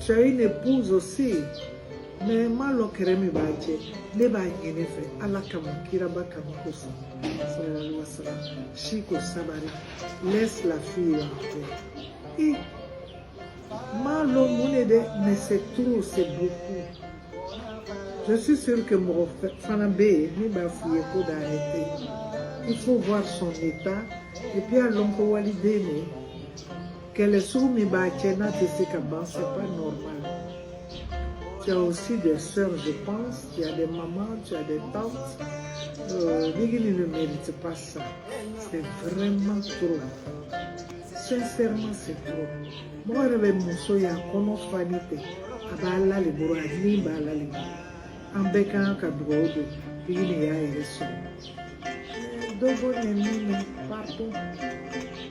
Tu as une épouse aussi. Mais n m'a lɔn kɛrɛ min b'a cɛ ne b'a ɲin'i fɛ ala kama kiraba kama kosɔn sallallahu wa sallam Chico sabari laisse la fille en paix i m'a lɔn mun de dɛ mais c'est trop c'est beaucoup je suis sûre que mɔgɔ fana bɛ yen min b'a f'i ye ko d'arrêter il faut voir son état et puis a lɔn ko waliden de Kɛlɛ sugu min b'a cɛ n'a tɛ se ka ban c'est pas normal tu as aussi des sœurs je pense tu as des mamans tu as des tantes euh, Nigini ne mérite pas ça c'est vraiment trop sincèrement c'est trop mɔgɔ yɛrɛ bɛ muso y'a kɔnɔ fanin ten a b'ala le bolo a ni b'ala le bolo an bɛɛ ka kan ka dugawu don Nigini y'a yɛrɛ sɔrɔ dɔ bɔ nɛnini na pardon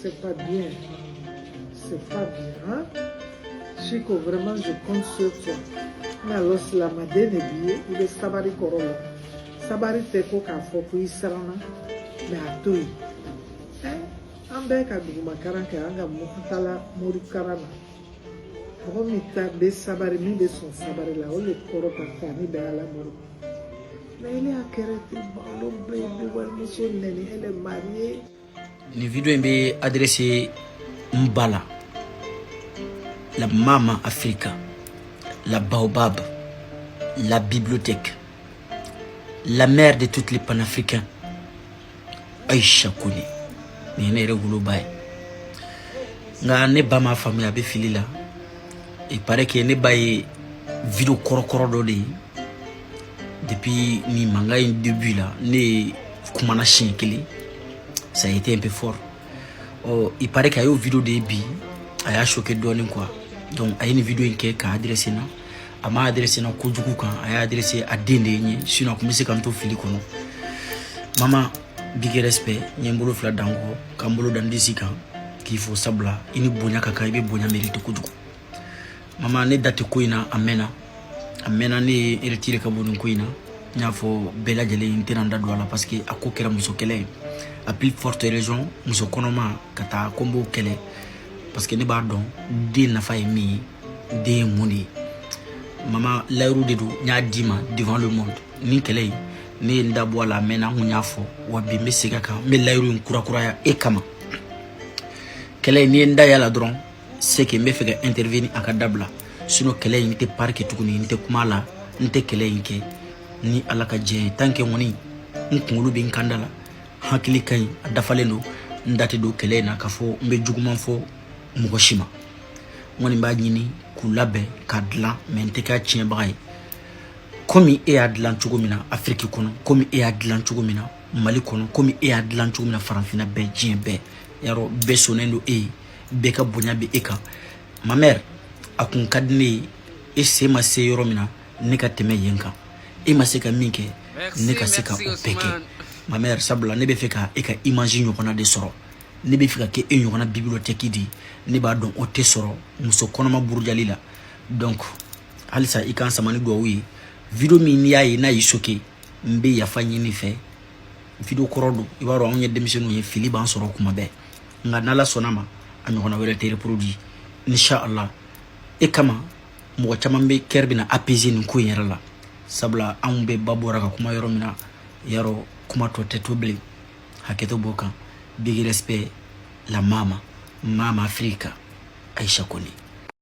C'est pas bien. C'est pas bien, hein? Chico, vraiment, je compte sur toi. N b'a lɔn silamaden le b'i ye i bɛ sabari kɔrɔ lɔn. Sabari tɛ ko k'a fɔ ko i siranna, mais a to yen. Hein? An bɛɛ ka dugumakaran kɛ an ka mɔgɔ taala morikaran na. mɔgɔ min ta bɛ sabari min bɛ sɔn sabari la o le kɔrɔ ka fɔ ani bɛ ala bolo mais ne y'a kɛra ten balo bɛɛ bɛ walimuso nɛni elle est mariée nin video in n b'a adressé n ba la la mama africa la baobab la bibliothèque la mère de toutes les panafricains aïcha koné nin ye ne yɛrɛ woloba ye nka ne ba m'a faamuya a bɛ fili la il paraît que ne ba ye video kɔrɔkɔrɔ dɔ de ye depuis nin mankan in début la ne ye kumana siɲɛ kelen ça a été un peu fort ɔ il paraît que a y'o video de ye bi a y'a choqué dɔɔnin quoi donc a ye nin video in kɛ k'a adressé n na a m'a adressé n na kojugu kan a y'a adressé a den de ye n ye sinon a tun bɛ se ka n to fili kɔnɔ mama big respect n ye n bolo fila da n kɔ ka n bolo da n disi kan k'i fo sabula i ni bonya ka kan i bɛ bonya mérite kojugu mama ne da tɛ ko in na a mɛnna a mɛnna ne ye n retiré ka bɔ nin ko in na n y'a fɔ bɛɛ lajɛlen n tɛna n da don a la parce que a ko kɛra muso kɛlɛ ye à plus forte raison muso kɔnɔma ka taa ko n b'o kɛlɛ parce que ne b'a dɔn den nafa ye min ye den ye mun de ye mama layiru de don n y'a d'i ma devant le monde nin kɛlɛ in ne ye n da bɔ a la mais ni n kun y'a fɔ wa bi n bɛ segin a kan n bɛ layiru in kurakuraya e kama kɛlɛ in n'i ye n da y'a la dɔrɔn se que n bɛ fɛ ka intervenir a ka dabila sinon kɛlɛ in n tɛ pari kɛ tuguni n tɛ kuma la n tɛ kɛlɛ in kɛ ni ala ka diɲɛ ye tant que kɔni n kunkolo bɛ n kanda la hakili ka ɲi a dafalen don n da tɛ don kɛlɛ in na k'a fɔ n bɛ juguman fɔ mɔgɔ si ma n kɔni b'a ɲini k'u labɛn k'a dilan mais n tɛ k'a tiɲɛbaga ye komi e y'a dilan cogo min na afiriki kɔnɔ komi e y'a dilan cogo min na mali kɔnɔ komi e y'a dilan cogo min na farafinna bɛɛ diɲɛ bɛɛ yarɔ bɛɛ sɔnnen don e ye bɛɛ ka bonya bɛ e kan ma mère a kun ka di ne ye e sen ma se yɔrɔ min na ne ka tɛmɛ yen kan e ma se ka min kɛ ne ka se ka o bɛɛ kɛ ma mère sabula ne bɛ fɛ ka e ka image ɲɔgɔnna de sɔrɔ ne bɛ fɛ ka kɛ e ɲɔgɔnna bibliotɛki de ye ne b'a dɔn o tɛ sɔrɔ muso kɔnɔma burujali la donc halisa i k'an sama ni duwawu ye video min n'i y'a ye n'a y'i choqué n bɛ yafa ɲini i fɛ video kɔrɔ don i b'a dɔn anw ye denmisɛnninw ye fili b'an sɔrɔ kuma bɛɛ nka n'ala sɔnna ma a ɲɔgɔnna wɛrɛ tɛ reproduit inshallah e kama mɔgɔ caman bɛɛ cœur bɛna apaiser nin ko in yɛrɛ la sabula anw bɛɛ ba bɔra ka kuma yɔrɔ min na yarɔ kuma tɔ tɛ to bilen hakɛto b'o kan big respect la mama mama afrika aïcha koné